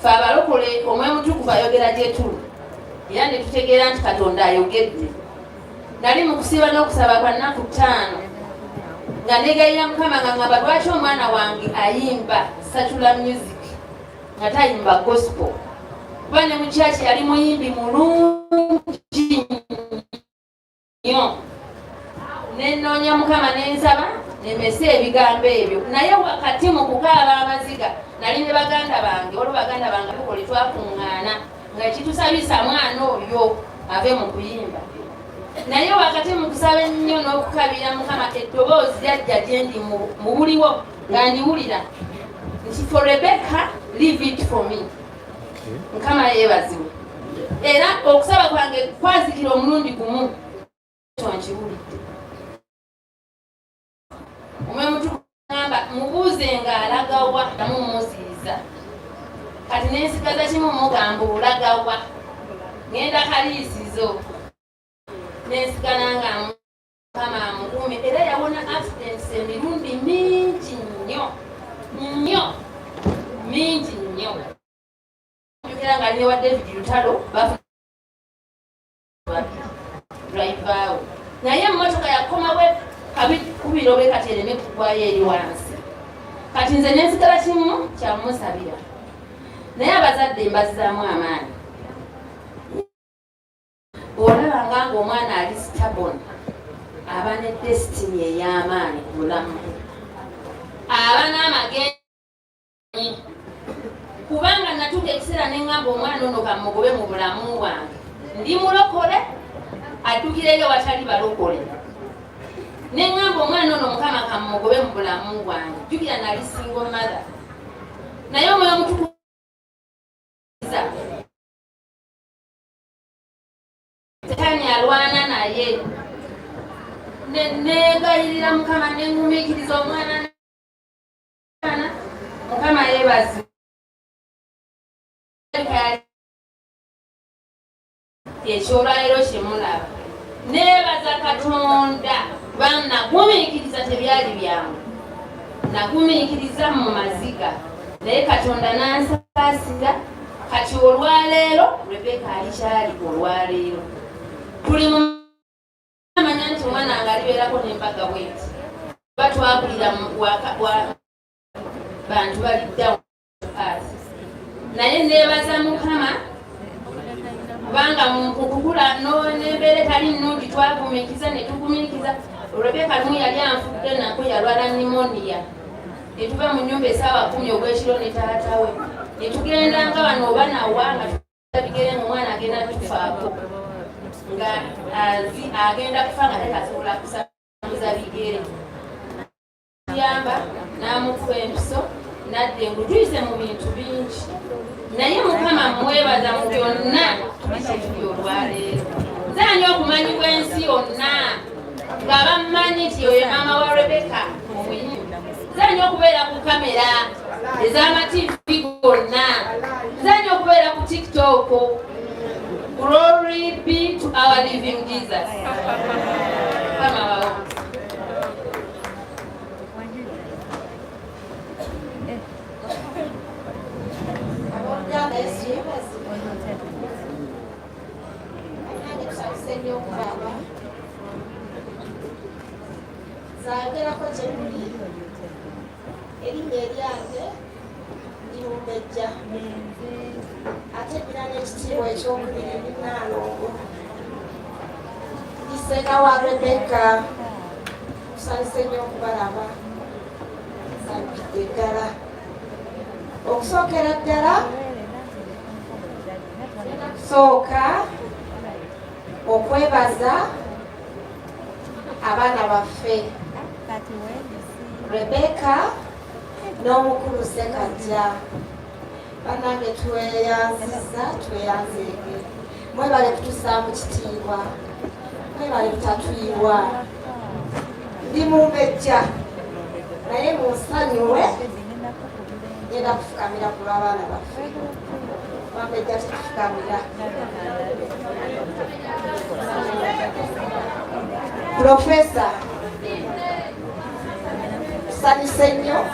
fe abalokole omwoyo mutukuvu ayogera gyetuli era ne tutegeera nti katonda ayogedde nali mu kusiiba n'okusaba kwa nnaku ttaano nga negayira mukama nga ngamba lwaki omwana wange ayimba satula music nga tayimba gospel kuba ne mukyaki yali muyimbi mulungi nyo nenoonya mukama nensaba nemese ebigambo ebyo naye wakati mu kukaaba amaziga nali ne baganda bange olwo baganda bange bikole twakuŋŋaana nga kitusabisa mwana oyo ave mu kuyimba naye wakati mu kusaba ennyo n'okukabira mukama eddoboozi lyajja gyendi mu buliwo nga ndiwulira nti for rebecca leave it for me mukama yebaziwe era okusaba kwange kwazikira omulundi gumu tonkibulidde omwemutuamba mubuuze nga alagawa namumuziiza kati nensigaza kimu mugamba olagawa ngenda kaliisizo nensigana nga mukama amukuume era yawona accidents emirundi mingi nnyo nnyo mingi nnyo jukira nga newa david lutalo drivawo naye emotoka yakomawe kabi kubira obe kati ereme kugwayo eri wansi kati nze nensigala kimu kyamusabira naye abazadde mbazizaamu amaanyi olabanga nga omwana ali stabon aba ne destiny ey'amaanyi ku bulamu aba n'amagenda kubanga natuuka ekiseera ne ŋamba omwana ono kamugobe mu bulamu bwange ndi mulokole addukireyo watali balokole ne ŋamba omwana ono mukama kamugobe mu bulamu bwange jjukira nali singo mathe naye omwoyo mutuku Setaani alwana naye negayirira mukama nengumiikiriza omwana mukama yebazi ekyolwaliro kyemulaba nebaza katonda kubanga nagumiikiriza tebyali byangu nagumiikiriza mu maziga naye katonda nansaasira kati olwaleero rebeka alikyali olwaleero tuli mumanya nti omwana nga alibeerako nembaga bweti ba twabulira bantu baliddawo naye nebaza mukama kubanga mukukula nembeera etali nnungi twagumikiza netugumirikiza rebeka lumu yali anfudde nako yalwala nimoniya ne tuva mu nnyumba esaawa kumi ogw'ekiro ne taata we ne tugenda nga bano oba nawa nga tubigere mu mwana agenda tufaako nga agenda kufa nga tekasobola kusamuza bigere yamba n'amukuba empiso nadda engu tuyise mu bintu bingi naye mukama mwebaza mu byonna tubikyekiri olwaleero zaani okumanyibwa ensi yonna nga bammanyi nti oyo maama wa rebeka omuyimu zanya okubeera ku kamera ez'amativi gonna zanya okubeera ku tiktok glory be to our living jesus zayogerako gye muli erinnya eryange ndimumbejja ate ddira n'ekitiibwa ekyokubiri ndi naalongo ndi ssenga wa rebekka tusanyuse nnyo okubalaba nsanyukidde ddala okusookera ddala sooka okwebaza abaana baffe rebeka n'omukulu sekajja banange tweyanziza tweyanzeege mwebale kutusaamu kitiibwa mwebale kutatuyiwa ndi mumbejja naye munsanyuwe ngenda kufukamira ku lw'abaana baffe Professor Sani Senyo